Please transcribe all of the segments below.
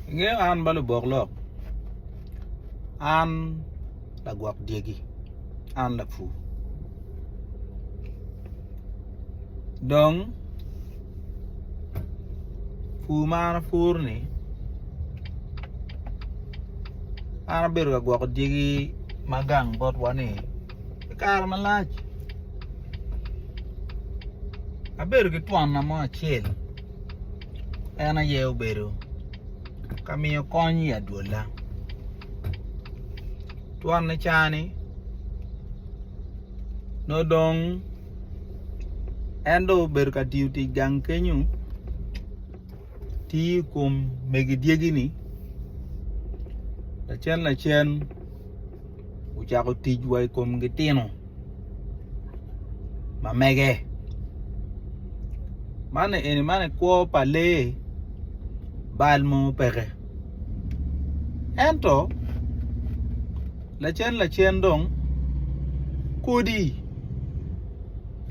Ingeyo an ba lubok lok, an lagwok dyegi, an lapur. Dong pur ma an apur-ni an abedo ka gwoko dyegi ma gang botwa-ni pi kare malac, abedo ki twonna mo acel en aye obedo ka miyo kony i adwola twon ni cani nongo dong en dong obedo ka tiyo tic gang kenyo tiyo i kom mege dyegi ni lacen lacen ocako tic wa i kom gitino ma mege. Man eni man i kwo pa lee bal mo peke. Ento lacen lacen dong kodi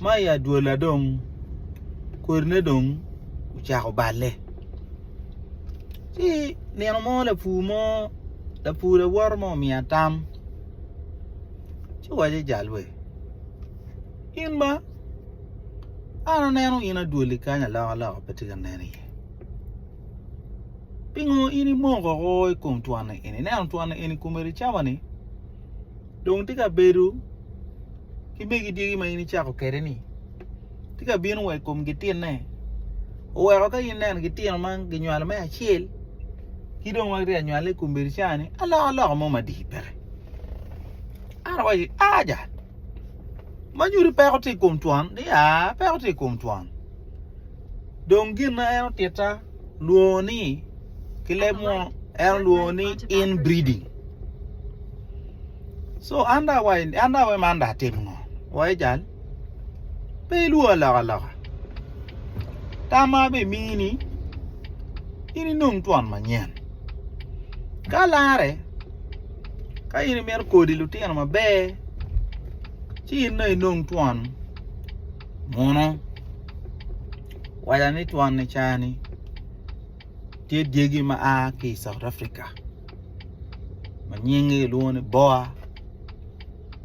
ma i adwola dong kodine dong ocako balle. Ci nino mo lapur mo lapur lawote mo omiya tam ci owaco jalwe in ma an aneno in adwoli kany aloka loka pe tye ka nen iye pingo in imoko woko i kom twon ni eni ineno twon ni eni kome ri camo ni. dong tye ka bedo ki megi dyegi ma in icako kwede ni tye ka bino wa i kom gitinne oweko ka in ineno gitino ma ginywalo me acel ki dong ma gitye ka nywale i kom bedo cani alokaloka mo madit bene an awaco ni aja ma nyuto peko tye i kom twon ni aa peko tye i kom twon. Dong gin ma en otitta lwongo ni ki leb mo en olwongo ni inbreeding. So an da wa an da we man da atim ngo? Wa ijal. Pe ilwongo loka loka. Tamma be mini in inong twon manyen. Ka lare ka in imito kodi lutino maber ci in no inong twon Muno, waca ni twon i caa-ni tye dyegi ma a ki i South Africa ma nyingi kilwongo ni Boer,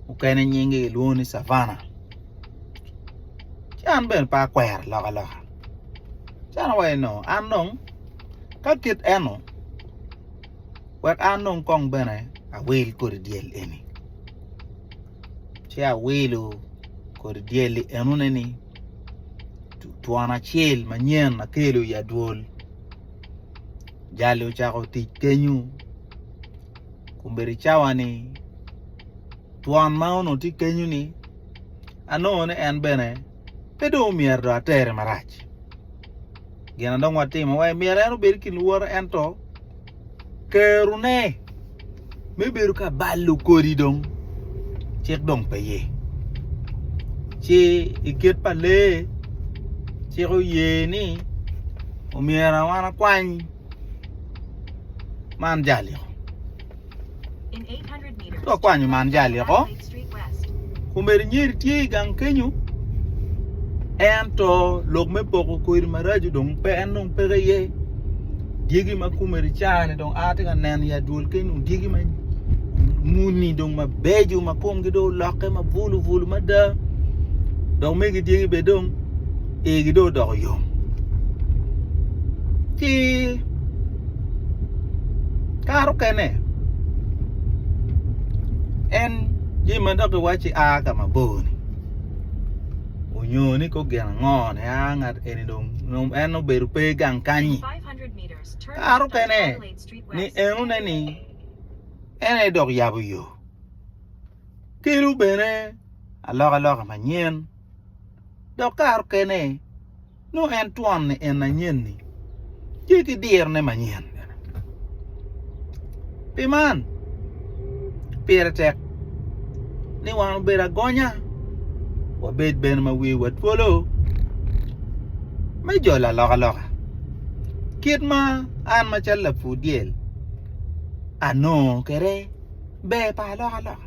mukene nyingi kilwongo ni Savanna. Ci an bene pe akwero alokaloka, ci an awaco ni an dong ka kit eno wek an dong kong bene awil kodi dyel eni. ci awilo kodi dyel-li enoni ni twon acel manyen akelo i adwol jal-li ocako tic kenyo kombeddi cawa-ni twon ma onongo tye kenyo-ni anongo ni en bene Pe dong omyero dong atere marac. Gin ma dong watimo wa myero en obed ki lworo ento kerone me bedo ka balo kodi dong cik dong pe ye. Ci i kit pa lee cik oye ni omyero wan akwany man jaliko. Ci okwanyo man jal-li oko, omeri nyeri tye i gang kenyo, ento lok me poko kodi maraco dong pe, en dong peke iye, dyegi ma kumeri cani dong a tye ka neno i adwol keny dong dyegi ma muni dong mabeco ma kumgi dong olokke ma bulu bulu mada, dok megi dyegi bene dong igi dong odoko yom ci kare okene en jami ma dok iwaci a ka mabor ni onyo ni kor gin ango ni a ngat eni dong nyo en dong obedo pe gang kany-nyi kare okene ni enone ni en aye dok yabo yo kelo bene alokaloka manyen dok kare okene nongo en twon ni en anyen-ni tye ki dirone manyen bene. Pi man, pire tek ni wan obed agonya, wabed bene ma wiwa twolo me jolo alokaloka kit ma an macalo lapur dyel anongo kwede ber pa alokaloka.